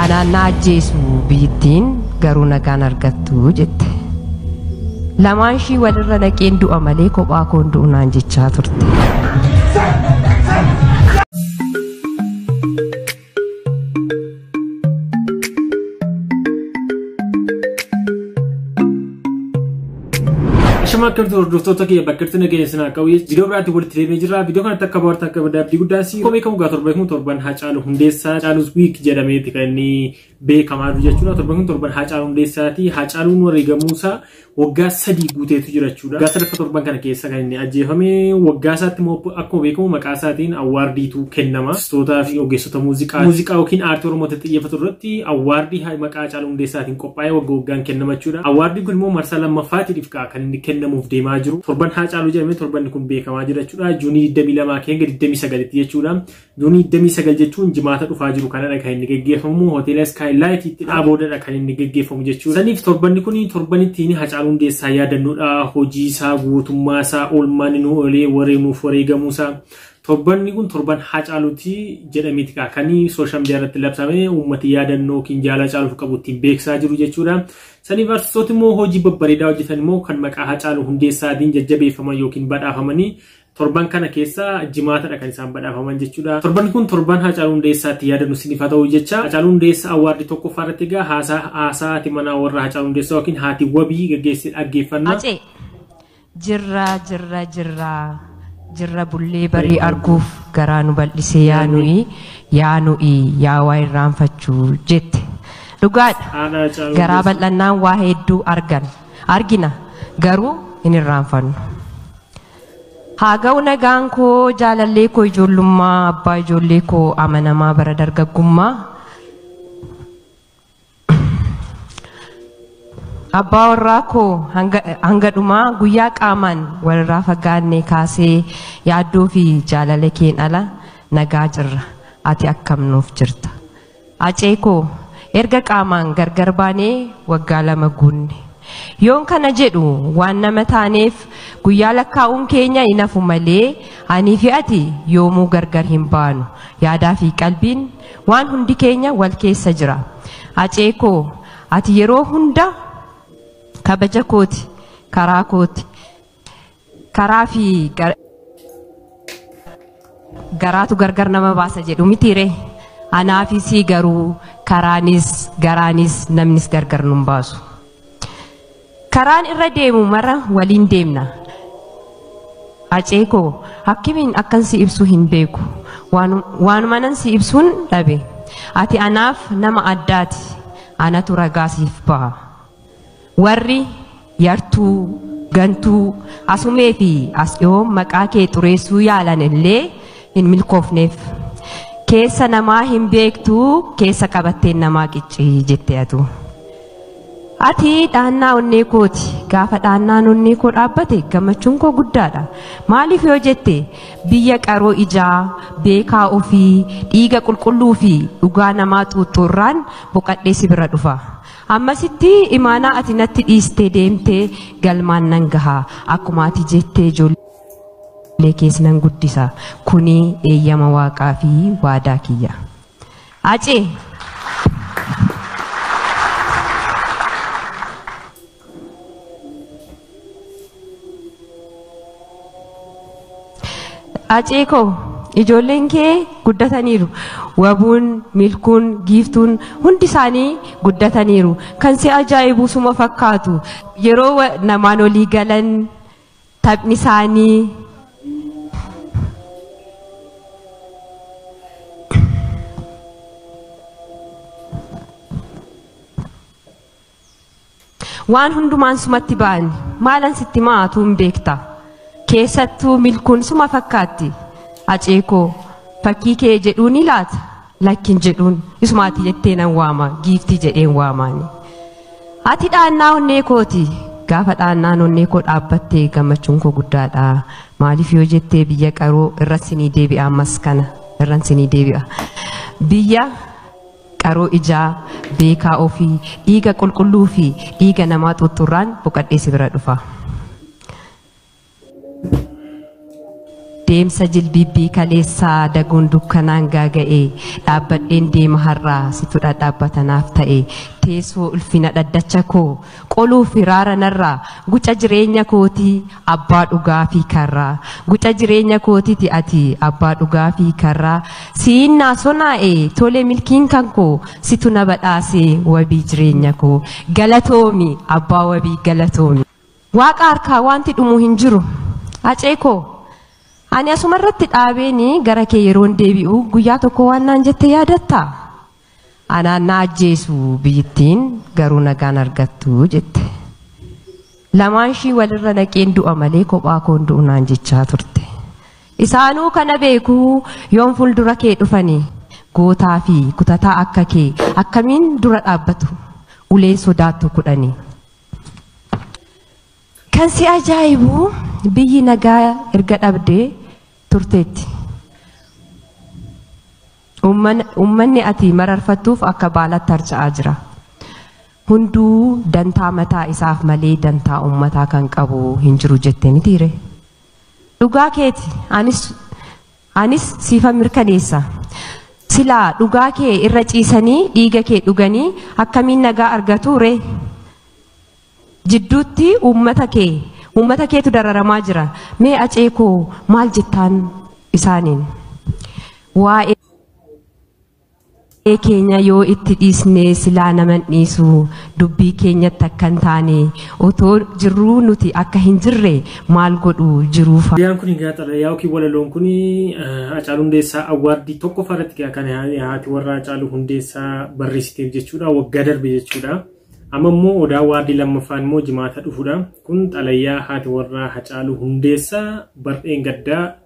Anaan na ajjeesu biyyittiin garuu nagaan argattu jette. Lamaan ishii walirra naqeen du'a malee kophaa koon du'u naan jechaa turte. Shama akkamitti hordoftoota kiyya bakkatti nageenya sinaa qabu viidiyoo biraatti walitti deebi'ee jirra. Viidiyoo kanatti akka baarta akka badda abdii guddaa si komii kamuu gaa torba kun torban haa caalu hundeessaa caalus wiik jedhameeti kan inni beekamaa jiru jechuudha. Torban kun torban haa caalu hundeessaati. Haa caaluun wareegamuusaa waggaa sadii guuteetu jira jechuudha. Waggaa sadaffa torban kana keessa kan inni ajjeefame waggaa isaatti immoo akkuma beekamu maqaa isaatiin awwaardiitu kennama. Artistootaa fi ogeessota muuziqaa muuziqaa yookiin aartii Oromootti xiyyeeffatu irratti awwaardii maqaa caaluu hundeessaatiin qophaa'ee wagga waggaan kennama jechuudha. Awwaardiin kun immoo marsaa lammaffaatiif ka'a kan inni kennamuuf deemaa jiru. Torban Haacaaluu jedhamee torbanni kun beekamaa jira jechuudha. Juunii 22 hanga 29tti jechuudha. Juunii 29 jechuun jimaata dhufaa jiru kanadha kan inni geggeeffamu hoteela Sky Light itti dhaaboodadha kan inni geggeeffamu jechuudha. Saniif torbanni kun torban ittiin Haacaaluu Hundeessaa yaadannuudha. Hojii isaa guutummaa isaa oolmaan inni oolee wareemuuf wareegamuu isaa Torbanni kun torban Haacaaluuti jedhameeti kaa kan sooshaal miidiyaa irratti labsame uummati yaadannoo yookiin jaalala Haacaaluuf qabu ittiin beeksisaa jiru jechuudha. Saniif artistooti immoo hojii babbareedaa hojjetan immoo kan maqaa Haacaaluu Hundeessaatiin jajjabeeffaman yookiin badhaafamanii torban kana keessa jimaatadha kan isaan badhaafaman jechuudha. Torbanni kun torban Haacaaluu Hundeessaatti yaadannu isiniif haa ta'u jecha Haacaaluu Hundeessaa awwaardii tokkoffaa irratti egaa haasaa haasaa haati manaa warra Haacaaluu Hundeessaa yookiin haati wabii gaggeessee dhaggeeffanna. Hacee. Jirra jirra jirra jirra bullee barii arguuf garaa nu bal'isee yaa nu'i yaa nu'i yaa waa irraanfachuu jette. Dhugaadha Haadha Hacaaluu garaa Hundeessaa. bal'annaan waa hedduu argan argina garuu hin irraanfannu. Haa ga'u nagaan koo jaalallee koo ijoollummaa abbaa ijoollee koo amanamaa bara dargaggummaa Abbaa warraa koo hanga, hanga dhumaa guyyaa qaamaan walirraa fagaannee kaasee yaaddoo fi jaalala keen ala nagaa jirra. Ati akkam nuuf jirta. Acee koo erga qaamaan gargar baanee waggaa lama guunne. Yoon kana jedhu waan nama taaneef guyyaa lakkaa'uun keenya hin hafu malee anii fi ati yoomuu gargar hin baanu. Yaadaa fi qalbiin Waan hundi keenya wal keessa jira. Hacee koo ati yeroo hunda kabaja kooti karaa kooti karaa fi gar- garaatu gargar nama baasa jedhu mitiire anaafisii garuu karaanis garaanis namnis gargar nun baasu. Karaan irra deemu mara waliin deemna. Hacee koo akkamiin akkan si ibsu hin beeku. Waanu- Waanumanan si ibsuun dhabe. Ati anaaf nama addaati. Anatu ragaa siif baha. Warri yartuu, gantuu, asumee fi as dhiyoo maqaa kee xureessuu yaalan illee hin milkoofneef. Keessa namaa hin beektu keessa qabatteen namaa qiccii jette atu. Ati dhaannaa onnee kooti. Gaafa dhaannaan onnee koo dhaabbate gammachuun koo guddaadha. Maaliif yoo jette biyya qaroo ijaa, beekaa ofii, dhiiga qulqulluu fi dhugaa namaa xuuxxu irraan boqadhee si bira dhufa. Ammasitti imaanaa ati natti dhiistee deemte galmaan nan gaha. Akkuma ati jettee ijoollee kees nan guddisa. Kuni eeyyama waaqaa fi waadaa kiyya. Hacee. Hacee koo ijoolleen kee guddataniiru. Wabuun, milkuun, giiftuun hundi isaanii guddataniiru. Kan si ajaa'ibu suma fakkaatu. Yeroo wa- namaan olii galan Taphni isaanii waan hundumaan sumatti ba'ani maalan sitti ma'aatu hin beekta keessattuu milkuun suma fakkaatti aceekoo fakkii kee jedhuu ni laata lakkin jedhuun isumaati jettee nan waama giiftii jedheen waamaani. Ati dhaannaa onnee kooti. Gaafa dhaannaan onnee koo dhaabbatte gammachuun koo guddaadha. Maaliif yoo jettee biyya qaroo irra sinii deebi'a ammas kana irran sinii deebi'a. Biyya qaroo ijaa beekaa ofii dhiiga qulqulluu fi dhiiga namaa xuuxxurraan boqadhee si bira dhufa. Deemsa jilbiibbii kaleessaa daguun dukkanaan gaaga'e dhaabbadheen deema har'aa situ dhadhaabbata naaf ta'e teessoo ulfina dhaddacha koo qoluu firaara narraa guca jireenya kootii abbaa dhugaa fi karraa guca jireenya kootiti ati abbaa dhugaa fi karraa siin naa sonaa'e tole milkiin kan koo situ na badhaase wabii jireenya koo galatoomi abbaa wabii galatoomi. Waaqa harkaa waanti dhumu hin jiru. Hacee koo! Ani asuma irratti dhaabeeni gara kee yeroon deebi'u guyyaa tokko waan naan jette yaadattaa? Anaan na ajjeesu biyyittiin garuu nagaan argattu jette. Lamaan ishii walirra naqeen du'a malee kophaa koon du'u naan jechaa turte. Isaanuu kana beekuu yoon fuuldura kee dhufanii gootaa fi kutataa akka kee akkamiin dura dhaabbatu uleen sodaattu kudhanii. Kan si ajaa'ibu biyyi nagaa erga dhabdee turteetti. Uumman- Uummanni ati mararfattuuf akka baalaatti harca'aa jira. Hunduu dantaa mataa isaaf malee dantaa uummataa kan qabu hin jiru jettee mitiire. Dhugaa keeti anis Anis siifan mirkaneessa. Silaa dhugaa kee irra ciisanii dhiiga kee dhuganii akkamiin nagaa argatu ree? Jidduutti uummata kee uummata keetu dararamaa jira. Mee acee koo maal jettaan isaaniin? Waa'ee Waa'ee keenya yoo itti dhiisne silaa naman dhiisu dubbii keenyatti akka hin taane otoo jirruu nuti akka hin jirre maal godhu jiruu faana. Xalayaan kun egaa xalayaa yookiin walaloon kun Hacaaluu Hundeessaa awwaardii tokkoffaa irratti egaa kan haati warraa Hacaaluu Hundeessaa barreessiteef jechuudha waggaa darbe jechuudha. Amma immoo odaa awwaardii lammaffaan immoo jimaata dhufudha. Kun xalayaa haati warraa Hacaaluu Hundeessaa bar'een gaddaa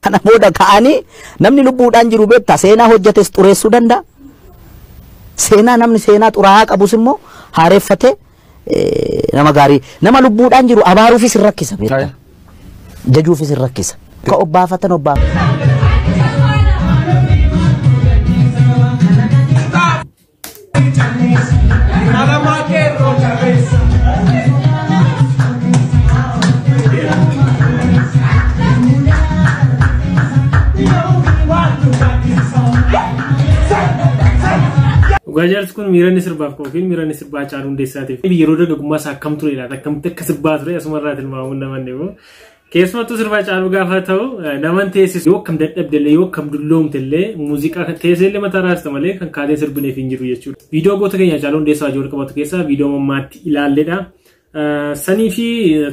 Kana booda ka'anii namni lubbuudhaan jiru beektaa seenaa hojjetes xureessuu danda'a. Seenaa namni seenaa xuraa'aa qabus immoo haareffatee eh, nama gaarii nama lubbuudhaan jiru abaaruufis hin rakkisa beektaa. Aye. Jajuufis hin rakkisa. Ka obbaafatan obbaafatan. Dhugaa jaarsi kun miira inni sirbaaf qabu fi miira inni sirbaa caalu hundeessaatiif yeroo dargaggummaa isaa akkam turedha akkamitti akka sirbaa ture asuma irraa tilmaamuun namanne immoo Keessumattuu sirba Hacaaluu gaafa ta'u naman teessisu yoo akkam dadhabde illee yoo akkam dulloomte illee muuziqaa teessee illee mataa raasta malee kan kaatee sirbineef hin jiru jechuudha. Viidiyoo goota keenya Hacaaluu Hundeessaa wajjin walqabatu keessaa viidiyoo mammaatti ilaalledha. Sanii fi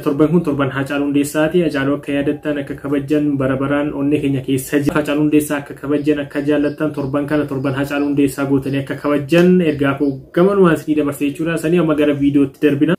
torban kun torban Hacaaluu Hundeessaati. Hacaaluu akka yaadattan akka kabajjan bara baraan onnee keenya keessa jira. Hacaaluu Hundeessaa akka kabajjan akka jaallattan torban kana torban Hacaaluu Hundeessaa gootanii akka kabajjan ergaa koo gamanumaan isinii dabarsee jechuudha. Sanii amma gara viidiyootti darbina.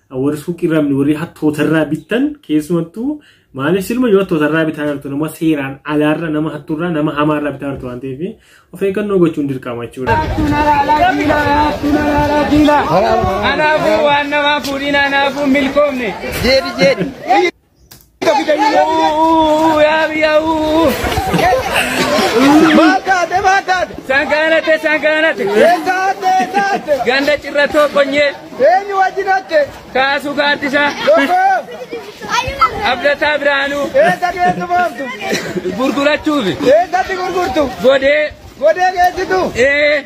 warri suuqii irraa bittan warri hattoota irraa bittan keessumattuu maaliif silma yoo hattoota irraa bitaa jirtu nama seeraan alaarra nama hattuurraa nama hamaa irraa bitaa jirtu waan ta'eef of eeggannoo gochuun dirqama jechuudha. Kanaafuu waan namaa fuudhiin anaafuu milkoomne. Sangaanate sangaanate ganda cirratoo qonyee Eenyu wajjin hatte? kaasuu gaaddisaa Tokko abdataa biraanuu eessa geessu boontu? gurgurachuufi Eessatti gurgurtu? godee Godee geessitu? ee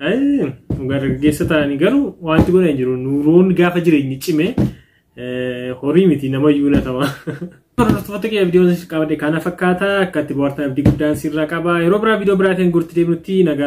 Dhugaa dargaggeessa ta'anii garuu wanti godhan jiru nuuroon gaafa jireenyi cime horii miti nama iyyuu latama. Hordoftoota kee viidiyoon qabate kana fakkaata akka itti bohaartan abdii guddaan sirraa qaba yeroo biraa viidiyoo biraatiin gurti deemnutti nagaa.